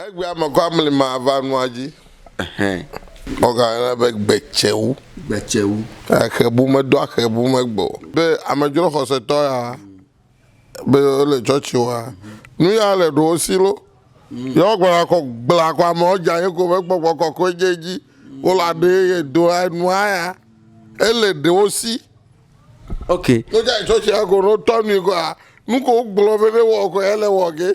Egbea me kɔ amli ma va nua dzi. Wogayɔna be gbetsewu. Gbetsewu. Axebu medo axebu megbe o. Be amedzro xɔsetɔ ya be wole tsɔtsi wa. Nu ya le ɖo wo si lo. Ye wogblɔna kɔ gbla kɔ amewo dza ye ko be gbɔgbɔ kɔkɔe dze edzi. Wole aɖe ye do nua ya. Ele ɖe wo si. Ok. Wodze tsɔtsi ya ko ne wotɔ nui kɔa nuke wogblɔ be ne wɔ kɔ ele wɔ ge.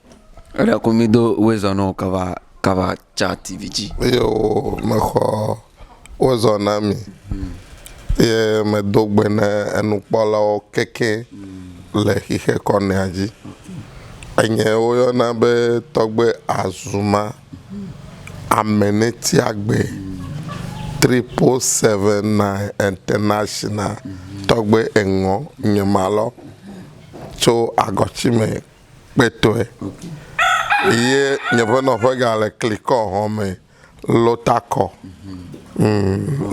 Eɖe ku mi do wezɔ nɔ kava kava ca tivi dzi. Eye wo mexɔ wezɔ na mi. Eye medo gbe ne enukpɔlawo keke le xixe kɔnea dzi. Enye woyɔna be tɔgbe Azuma, Amenetiagbe, Triple Seven Nine International, tɔgbe eŋɔ nye ma lɔ tso agɔtime. kpetɔe eye nye ƒe nɔƒe ga le klikɔ xɔ me lota kɔ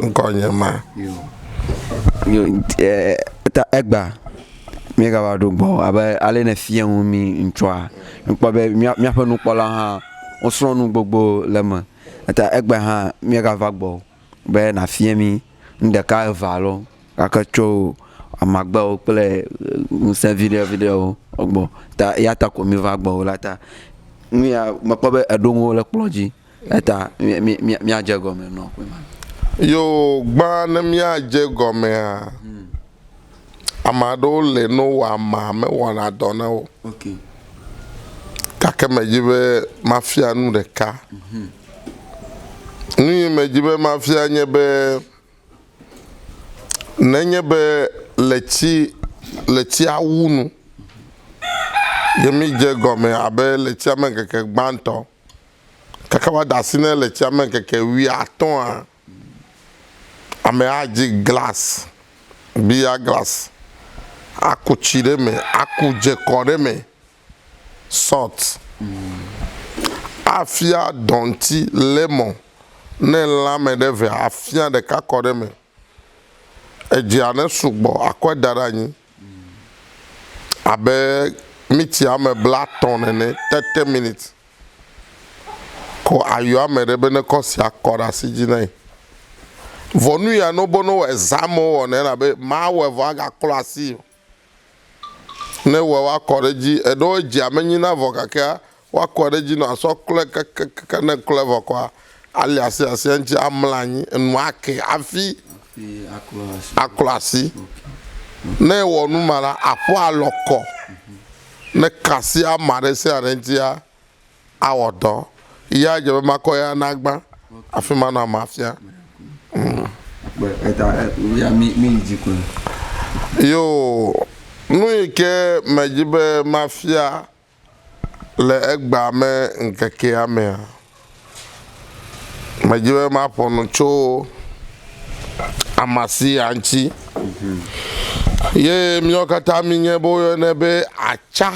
ŋkɔ nye ma ta egba mi ga va ɖo gbɔ abe ale ne fia ŋu mi ŋtsɔa mi kpɔ be mia mia ƒe nukpɔla hã wo srɔ nu gbogbo le me ta egba hã mi ga va gbɔ. be nàfia mí nu ɖeka eve alo nake tso amagbewo kple ŋusẽ viɖe viɖewo gbɔ ta eya ta ko míva gbɔwò la ta nu ya mekpɔ be èɖo nuwo ɖe kplɔ dzi eya ta mí mí míadze egɔme nɔ ƒe ma. Yoo, gbã ne míadze egɔmea? Ame aɖewo le ne wowɔ amea, mewɔna dɔ na wo. Gake medi be mafia nu ɖeka. Nu yi medi be mafia nye be, nenye be le tsi, le tsia wu nu ye mídze egɔme abe le tsia me ŋkeke gbãtɔ, kaka woada asi ne le tsia me ŋkeke wuiatɔ̃a, Amea dzi glas, biya glas, aku tsi ɖe eme, aku dze kɔ ɖe eme, salt, afia dɔŋti, lemɔn, ne lã me ɖe vea, afia ɖeka kɔ ɖe eme. Edzea ne sugbɔ akɔe da ɖe anyi abe miti ame blatɔ̃ nene, thirty minutes. Ko ayɔ ame ɖe be nekɔ sia kɔ ɖe asi dzi nɛ. Vɔ nu ya no bono wɔe zã amewo wɔnɛ elabe mawɔe vɔ agaklɔ asii o. Ne ewɔe woakɔ ɖe edzi, eɖewo edzia menyi na vɔ gakea woakɔ ɖe edzi nɔ asɔ klɔe kekekekeŋ ne eklɔe vɔ kɔa Ali asi asia ŋuti amla anyi, enu ake hafi aklɔ asi. Ne ewɔ nu ma la, aƒu alɔ kɔ. Ne ka asi ama ɖe sia ɖe ŋutia, awɔ dɔ. Ya dze be makɔ ya nagbã, hafi manɔ ame afia. Yoo, nu yi ke medzi be mafia Le egbea me ŋkekea mea, medi be maƒo nu tso Amasia ŋuti. Ye míawo katã míenye be woyɔnɛ be atsa.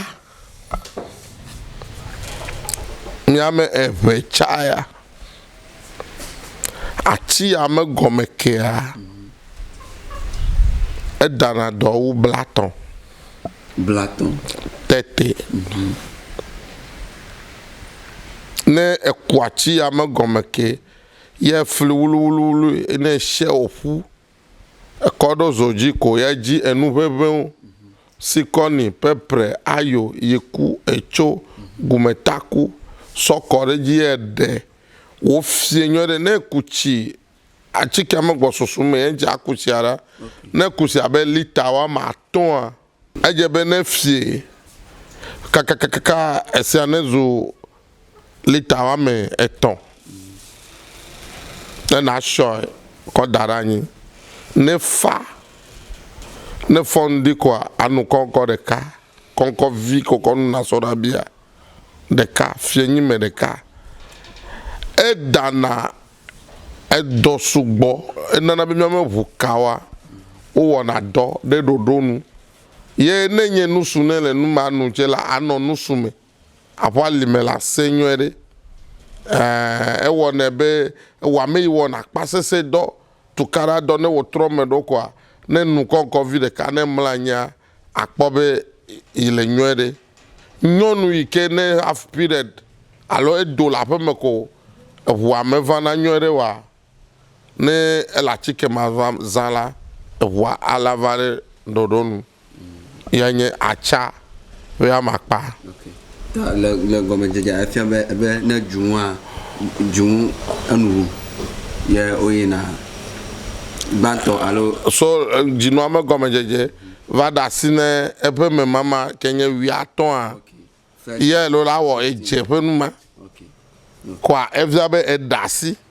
Nye ame eve tsa ya. Ati ya me gɔme kea, edana dɔ wu blatɔ. blatɔ̃. Tete, ne eku atsi ya me gɔme ke ye efli wluwluwlui ne eshɛ oƒu ekɔ ɖo zo dzi ko ye edzi enu ʋeʋewo, sikɔni, pepre, ayo, yiku, etso, gumetaku sɔ kɔ ɖe edzi ye eɖe wofiɛ nyuiɖe. Ne eku tsi Atikea megbɔ susu mee edze akusia ɖa. Ne kusi abe lita woame atɔ̃a, edze be ne efie kakakaka esia nezu lita woame etɔ̃ ne nàsɔe kɔ da ɖe anyi. Ne fa, ne fɔ ŋdi koa anu kɔŋkɔ ɖeka, kɔŋkɔ vi ko kɔ nu nasɔ ɖa bia ɖeka, fiẽnyime ɖeka. Edana Edɔ sugbɔ, enana be míame ŋu kawa wowɔna dɔ ɖe ɖoɖo nu. Ye ne nye nusu ne le nu ma nu tse la, anɔ nusu me aƒu ali me le ase nyuie ɖe. Ẽ, ewɔnɛ be ewɔa ame yi wɔna akpasese dɔ, tukaɖa dɔ, ne wòtrɔ me ɖo koa, ne nu kɔŋkɔ vi ɖeka ne mlɔ anyia, Akpɔ be yi le nyɔɛ ɖe. Nyɔnu yi ke ne have period alo edo le aƒeme ko eŋua me vana nyɔɛ ɖe oa? Ne ele atike ma zã la, eŋua ala va ɖe ɖoɖo nu. Ye nye atsa ƒe amakpa. Le, le gɔmedzedzea efia be, be ne dzunua, dzunu enu ŋu ye woyina gbãtɔ alo. So dzinua me gɔmedzedze va ɖe asi ne eƒe memama ke nye wuiatɔ̃a ye loo la wɔ edze ƒe numa kɔa efia be eɖe asi.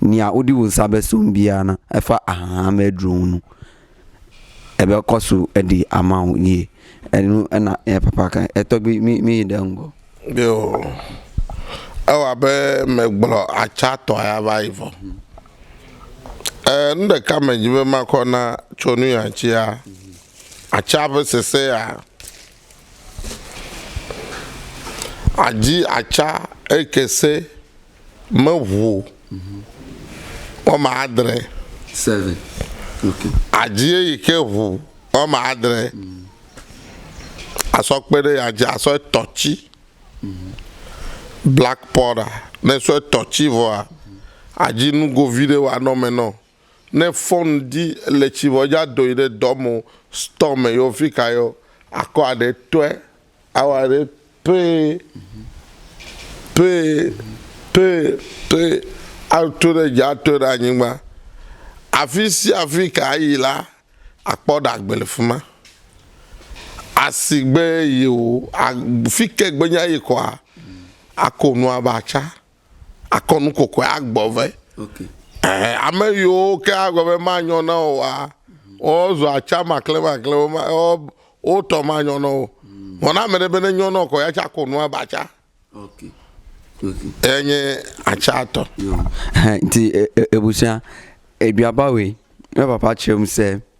Nia woɖi wo ŋsa be so ŋbia na eƒe ahaha me dro ŋu nu. Ebe kɔ so eɖi ama ŋu nie. Enu ena eya papa ka. Etɔgbi mi mi yi ɖe ŋgɔ. Yo. Ewa abe me gblɔ atsa tɔ ya va yi vɔ. E nu ɖeka me dzi be ma kɔ na tso nu ya tsia, atsa ƒe sese ya. Adzi atsa eke se. meʋu woame adre. Seven. Okay. Adzie yi ke ʋu woame adre. Asɔ kpe ɖe ya dzi asɔ etɔ tsi. Black powder. Ne esɔ etɔ tsi vɔa, adzi nugo vi ɖe woanɔ eme nɔ. Ne fɔn dzi le tsi vɔ edza do yi ɖe dɔ me o, store me yeo, fika yeo, akɔ aɖe tɔɛ Awa ɖe pɛɛ, pɛɛ, pɛɛ, pɛɛ, ato ɖe dzi, ato ɖe anyigba. Afi sia afi ke ayi la, akpɔ ɖe agbe le fi ma. Asigbe yewò, fike gbenye ayi kɔa, ako nua va tsa. akɔ nu kɔkɔe agbɔ vɛ. Okay. Ɛɛ, ame yiwo ke agblɔ be manyɔ na wò wa, wozua atsa maklɛmaklɛ, woma, wo, wotɔ manyɔ na wo. Mm. Vɔ na ame ɖe be ne nyɔ na wò kɔ ya tsa ko nua ba tsa. Okay. Okay. Eya nye atsa tɔ. Nti e, e, e, ebusia, ebiabawe, evapatsem se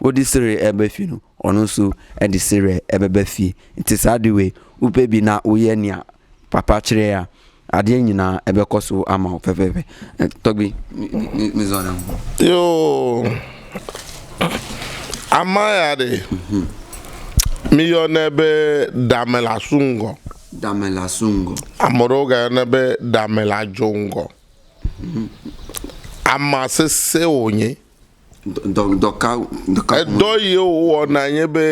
Wodi Sire ebe fi nu, ɔnu su edi Sire ebe be fi. Nti sa diwe upe bi na uye nia papa crea adie nyina ebe kɔsu ama o fefefe. Tɔgbi, mi zɔ na mu. Yo, ama ya ɖe, mi yɔ ne be dame la su ŋgɔ. Dame la su ŋgɔ. Ame ɖewo ga yɔ ne be dame la dzo ŋgɔ. Ama sese wonye. Edɔ yiwo wowɔna nye be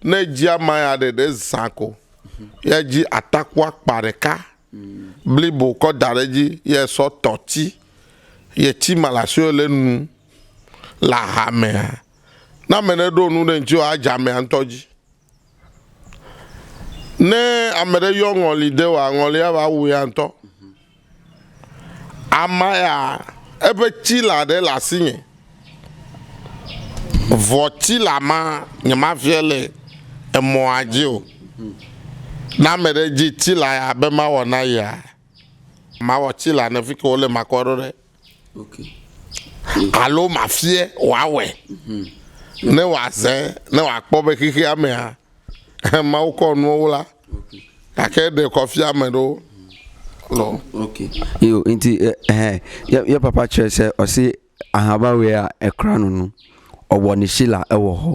ne edzi ama ya ɖeɖe zã ko ye edzi atakua akpa ɖeka blibo kɔ da ɖe edzi ye esɔ tɔ ti ye ti ma le asi le enu le aha mea ne ame ɖe ɖo nu ɖe ŋti woa edze amea ŋtɔ dzi. Ne ame ɖe yɔ ŋɔli de wòa, ŋɔlia va wu ya ŋutɔ. Ama ya, eƒe tsila ɖe le asinye. Vɔ tsila ma nyemafiɛ le emɔa dzi o. Ne ame ɖe dzi tsila ya be mawɔ na yea, mawɔ tsila ne fike wole makɔ ɖo ɖe. alo mafie wòawɔe, ne wòazẽ, ne wòakpɔ be xexea mea, Mawu kɔ nuwo wu la, gake eɖe kɔ fia ame ɖewo. Lɔ. Okay. Yo, nti eh, eh, ye, ye papa tsɔe se ɔsi ahabawea ekura nunu ɔwɔ nishila ewɔ hɔ.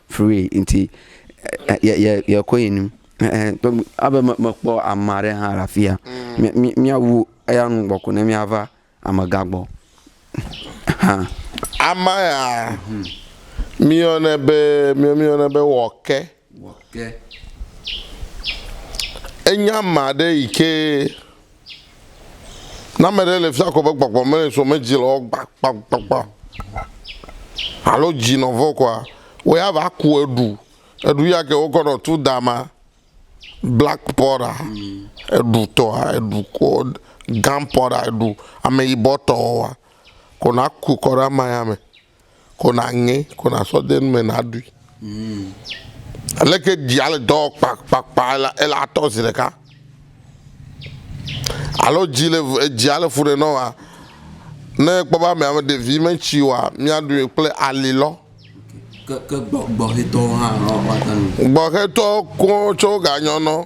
free nti yɛ kɔ yi nu abe mekpɔ ama ɖe hã rafia mm. mia wu eya nu gbɔ ko ne mia va amega gbɔ ha ama ya mhm. mia ne be mia mia ne be wɔke wɔke enya ma ɖe yi ke Ne ame ɖe le fiakɔ be gbɔgbɔ me so me dzi le wɔ gbakpakpakpa alo dzi nɔ vɔ kɔa, wo ya va ku eɖu. Eɖu ya ke wokɔ nɔ tu da ma, black powder, eɖu tɔa, eɖu kɔ gan powder eɖu ameyibɔ tɔ wɔa, kɔ na ku kɔ ɖe ama ya me. Ko naŋe, ko nasɔ de nu me naɖui. Aleke dzia le dɔ wɔ kpakpakpa ele atɔ zi ɖeka? Alo dzi le edzia le fu ɖe nɔ wa ne ekpɔ be ame ame ɖevi metsi wa miaɖui kple ali lɔ. Ke ke gbɔ gbɔhɛtɔwo hã woata nu. Gbɔhɛtɔ kɔ tsɛ woganyɔ nɔ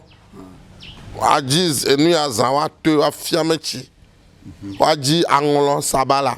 adzi enu ya zã woatɔe woafia metsi woadzi aŋlɔ sabala.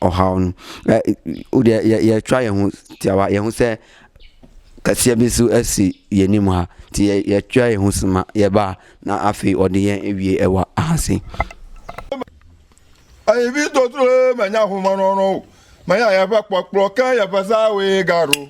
ɔhawo nu. E woɖe ye yetsɔa ye ŋu tia wa ye ŋusẽ efia be so esi ye ni ma ti ye yetsɔa ye ŋusẽ ma ye ba na afi ɔɖi ye ewie ewa ahasi. Eyi vi totro menya humanɔnɔ o. Menya yeƒe kpɔkplɔ ke yeƒe seawoe gaɖo.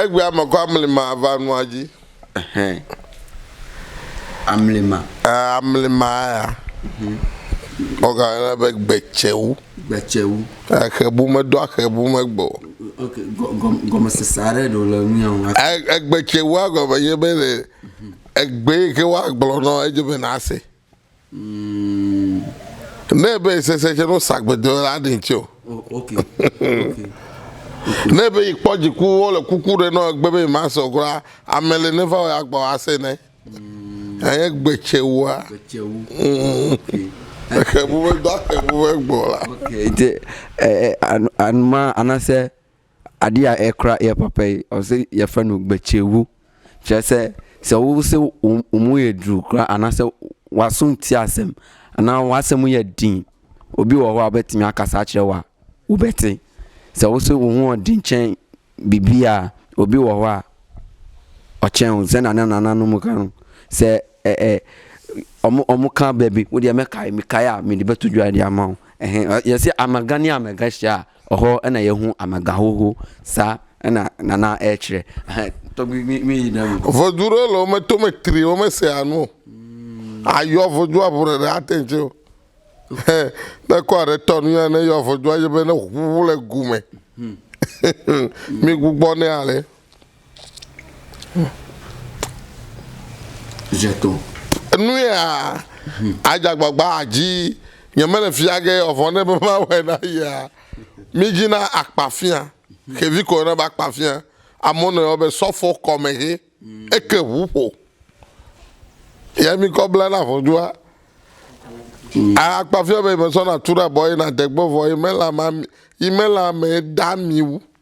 Egbea ame kɔ amlima va nua dzi. Ɛhɛn. Amlima. Ɛɛ, eh, amlima ya. Mhm. Ɔga yɔna be gbetsewu. Gbetsewu. Exebu medo axebu megbe o. Ok, gɔmesese aɖe ɖo le nu ya ŋu. Egbetsewua gɔme nye be le egbe yi ke woagblɔ nɔ edze be nase. Ne be sese tsɛ no sa gbedo la ɖe ŋtsɛ o. Ne be yi kpɔ dziku wo le kuku ɖe nɔ egbe be ma sɔ gura ame le ne va wo ya gba ase ne. Eye gbe tsɛ wua. Exe bu be do axe bu be gbɔ la. Ete anuma anase Aɖi ya ɛ kura yɛ pɔpɛ yi ɔ se yɛ fɛ nu gbe cɛ wu. Cɛ se se wo se wo wo mu yɛ dru kura ana se wa sun ti a sem. Ana wa se mu yɛ din. O bi wɔ wa bɛ ti mi a kasa cɛ wa wo bɛ ti. Se wo se wo ŋu ɔ din cɛ bibi a o bi wɔ wa ɔ cɛ ŋu se na ne na na nu mu kan. Se ɛ ɛ ɔ mu ɔ mu kan bɛ bi. Wo di ɛ mɛ ka yi mi ka ya mi di bɛ tu ju a di a ma ɔ. Ehɛn yɛ se amɛga ni amɛga shi a Exɔ ena ye ŋu amegã xoxo sa ena nana eye tsre he tɔgbi mi mi yi ɖe ŋu. Vodzu ɖewo le wo me to me tri wo me sea nu o. Ayɔ vodzu abu ɖe ɖe ate ŋu tse o. He ne kɔ aɖe tɔ nu ya ne yɔ vodzu adze be ne ŋu le gu me. Mi gbugbɔ ne ale. Enuyea adze agbagba dzi nye mele fia ge ɔvɔ ne be mawɔe na yea. Mi dzi na akpa fia xevi ko ne be akpa fia amewo nɔ yɔ be sɔfo kɔme he eke ʋu ƒo ye mi kɔ bla na ʋɔdua. Akpa fia be yi me sɔ na tu ɖe abɔ ye na degbe vɔ yi me la ma yi me la me da mi wu.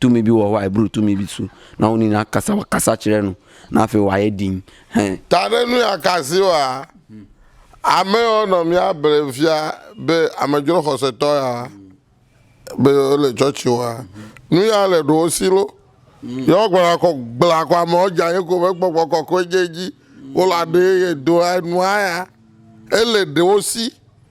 Tumi bi wɔ wae bru tumi bi su na woni na kasa wa kasa tsire nu na fe wa ye din he. Ta ɖe nu ya kasi wa ame yɔ nɔ mia ble fia be amedzro xɔsetɔ ya be yɔ le tsɔtsi wa nu ya le ɖo wo si lo yɔ gbɔna kɔ gbla kɔ ame yɔ dza ye ko be gbɔgbɔ kɔkɔe dze dzi wo la ɖe ye do enua ya ele ɖe wo si.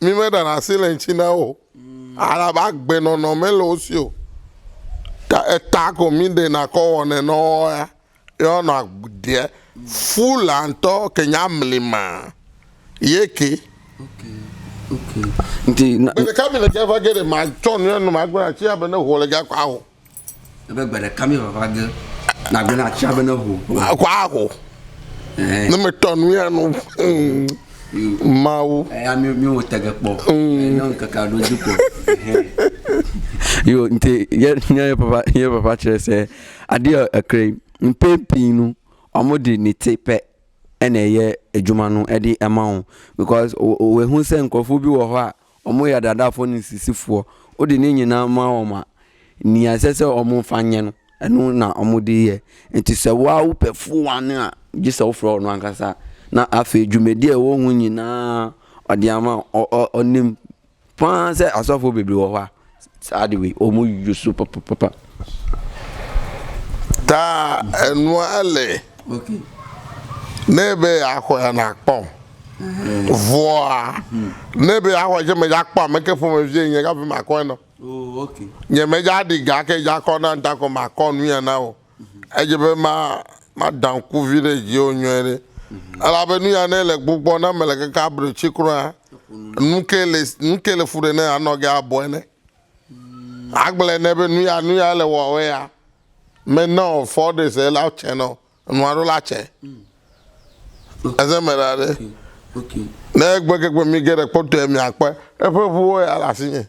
Mi me ɖana asi le ŋtsi na wo. Alaba agbe nɔnɔ me le wo si o. Ka eta ko mi ɖe na kɔ wɔ ne nɔ wo ya. Yɔ nɔ agbeɛ. Fu la ŋtɔ ke nya mli ma. Ye ke. Ŋti na. Bele ka mi le gɛ va gɛ ɖe ma tsɔ nu ya nɔ ma gbe na tsi ya be ne ho le gɛ akɔ aho. Ebe gbe ɖeka mi vava ge nagblẽ na atia be ne ho. Aho aho. Eh. Ne metɔ nu ya nu. Mm. Mawu. Eya eh, mi mi wo tege kpɔ. Mm. Eh, ne ŋkeke aɖo dzi kpɔ. Yo nti ye nye papa ye papa kyerɛ sɛ aɖi ekre mpe pii nu ɔmo di ni te pɛ ɛna ɛyɛ edwuma nu ɛdi ɛma wo because wo wo ehu sɛ nkorɔfo bi wɔ hɔ a. ɔmɔ ya ɖaɖa fɔ ni sisi fuɔ o ɖe ni nyi na ma wɔ ma ni ya sese ɔmɔ fa nyɛ nu enu na ɔmɔ ɖe yɛ enti sɛ wa wo pɛ fu wa ni a dzi sɛ wo fɔ ɔ nu a kasa na a fɛ ju mɛ ɖiɛ wo ŋu nyi na ɔ ɖia ma ɔ ɔ ɔ nim faa sɛ asɔfo bebli wɔ wa. Ta enua ele nebe yeaxɔe ya nakpɔ vɔa nebe yeaxɔe ya medzia kpɔ ameke ƒomevie nye hafi makɔe nao nye medzia ɖi ga ke dza kɔ na ŋtakɔ makɔ nuya nao. Edze be maɖa ŋku vi ɖe dziwò nyuie ɖe, elabe nu ya ne le gbugbɔ ne mele keke abre tsi kura, nuke le nuke le fu ɖe ne anɔ ge abɔe ne? Agblẽ ne be nu ya nu ya le wɔwɔ ya, me na o fɔ ɖe se la tsɛ nɔ nua ɖo la tsɛ. Eze me ɖa ɖe. Ne egbe ke gbe mi ge ɖe kpɔtɔe mi akpɔe. Eƒe ŋuwo ya le asinye.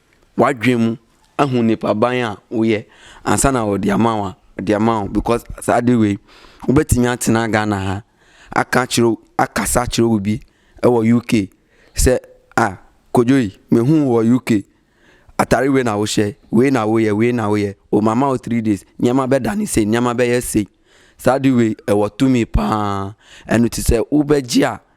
wa djɔɛ mu ehun ni ƒa ba ya wu yɛ ansa na wɔ ɖia ma wa ɖia ma wo bikɔs sa aɖe woe wo be tinya tina gana ha aka tsro aka sa tsro wu bi ewɔ uk se a kodjo yi me hu wɔ uk atari wɛ na wo shɛ wɛ na wo yɛ wɛ na wo yɛ o mama wo tri dais nya ma be ɖa ni se nya ma be ye se sa ɖi wɛ ewɔ tu mi paa enu ti se wo be djia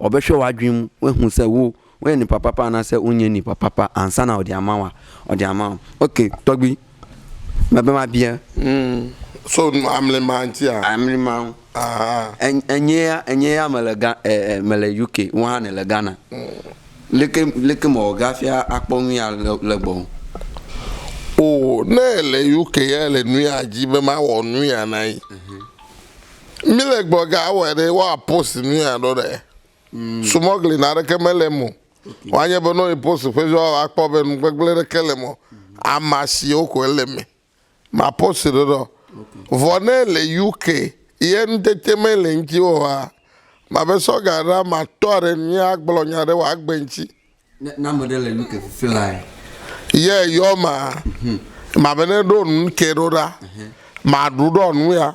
Ɔ be shɔ wa juim we hun se wo wo yɛ ni papa pa ana se unye ni papa pa ansa na ɔdi ama wa ɔdi ama wa ok tɔgbi me be ma bia mm so amli ma nti a amli ma ŋu enye ya enye ya me le ga e e me le uk wo hã ne le ghana leke leke me ɔga fia akpɔ nu ya le le gbɔ o ne le uk ya le nu ya dzi be ma wɔ nu ya na yi. Mm -hmm. Mi le gbɔ ga awɔ ɖe wa post nu ya ɖo ɖe. Mm. Sumɔgli na ɖe ke me le mo. Okay. Wa nye be no post fe jo wa kpɔ be nu gbegble ɖe ke le mo. Amasi o ko le me. Ma post ɖo ɖo. Vɔ ne le UK ye nu tete me le nti wo wa. Ma be so ga ra ma to re ni a gblo nya re wa gbe nti. Na na me le UK fly. Ye yo ma. Mm -hmm. Ma be ne do nu ke ro ra. Mm -hmm. Ma du do nu ya.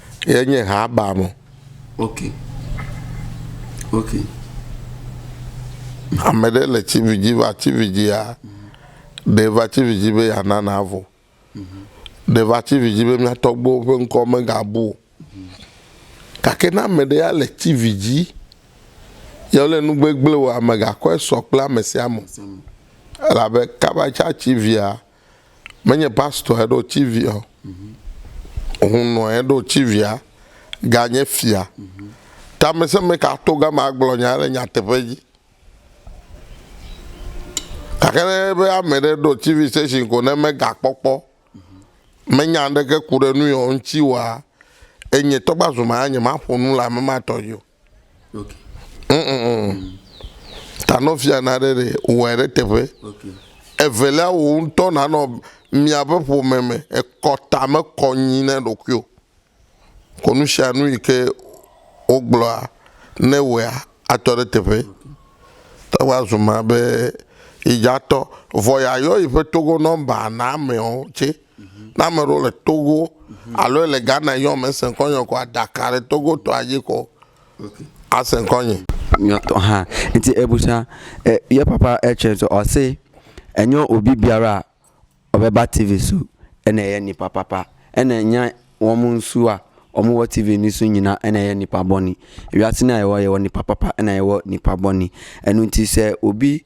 Ye nye ha ba mo. Ok. Ok. Ame ɖe le TV dzi va TV dzia, ɖe va TV dzi be ya na na vo. Ɖe va TV dzi be mia tɔgbuiwo ƒe ŋkɔ me ga bu o. Gake ne ame ɖe ya le TV dzi, ye le nu gbegble wɔa, me ga kɔe sɔ kple ame sia ame o. Elabe kaba tsa TV ya. menye pastor eɖo tivia o hunɔ eɖo tivia ganye fia tamese me ka to gama agblɔ nya le nyateƒe dzi gake ne be ame ɖe ɖo tv station ko ne mega kpɔkpɔ menya ɖeke ku ɖe nu yɔ ŋuti wa enye tɔgba zuma nya ma ƒonu le ame ma tɔ yio Tanɔvia na ɖe ɖe wɔe ɖe teƒe. Evelia wò ŋutɔ nanɔ miaƒe ƒome me ekɔ ta me kɔ nyi ne ɖokuiwò. Kɔ nu sia nu yi ke wogblɔa ne wɔea atɔ ɖe teƒe. Te ŋu azu ma be yi dza tɔ vɔ ya yɔ yi ƒe togo nɔmba na amewo tse. Ne ame ɖewo le Togo alo le Ghana yɔm ese ŋkɔ nye ko aɖaka ɖe Togo tɔa dzi ko ase ŋkɔ nye. Nyɔtɔ hã. Nti ebusa e, ye papa etsɛ so ɔse enyo obi biara ɔbe ba TV su ene ye nipa papa. Ene nya wɔmu nsua ɔmu wɔ TV ni su nyina ene ye nipa bɔni. Ewiasi na yewɔ yewɔ nipa papa ena yewɔ nipa bɔni. Enu nti se obi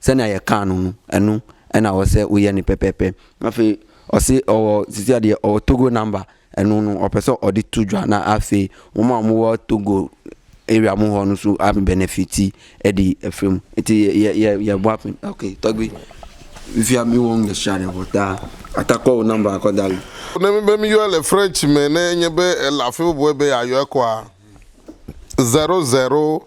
Sɛnea yɛ kaa nu nu enu ena ɔ se u yɛ ni pɛpɛpɛ. Hafi ɔ se ɔ wɔ zizia ɖi ɔ Togo namba enu nu ɔ pɛsɔ ɔ ɖi tu djua na a fe mu ma mu wɔ Togo area mu hɔ nu su a benefiti e ɖi efe mu eti yɛ yɛ yɛ yɛ bua pin ok tɔgbi via mi wɔ nu ɖesia ɖe vɔ ta a ta kɔ wo namba kɔ da li. Ne mi be mi yɔɛ le French me ne enye be e le afi bubue be ya yɔɛ kɔa zero zero.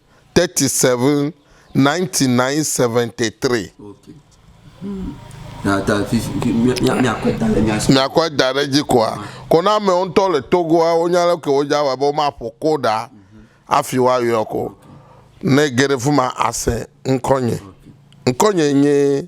thirty seven ninety nine seventy three. Miakɔe da ɖe edzi koa? Ko na amewo ŋutɔ le Togoa wonya leke wodze awɔe be womaƒo koɖa hafi woayɔ ko. Ne ege ɖe fi ma ase ŋkɔnye. Ŋkɔnye nye.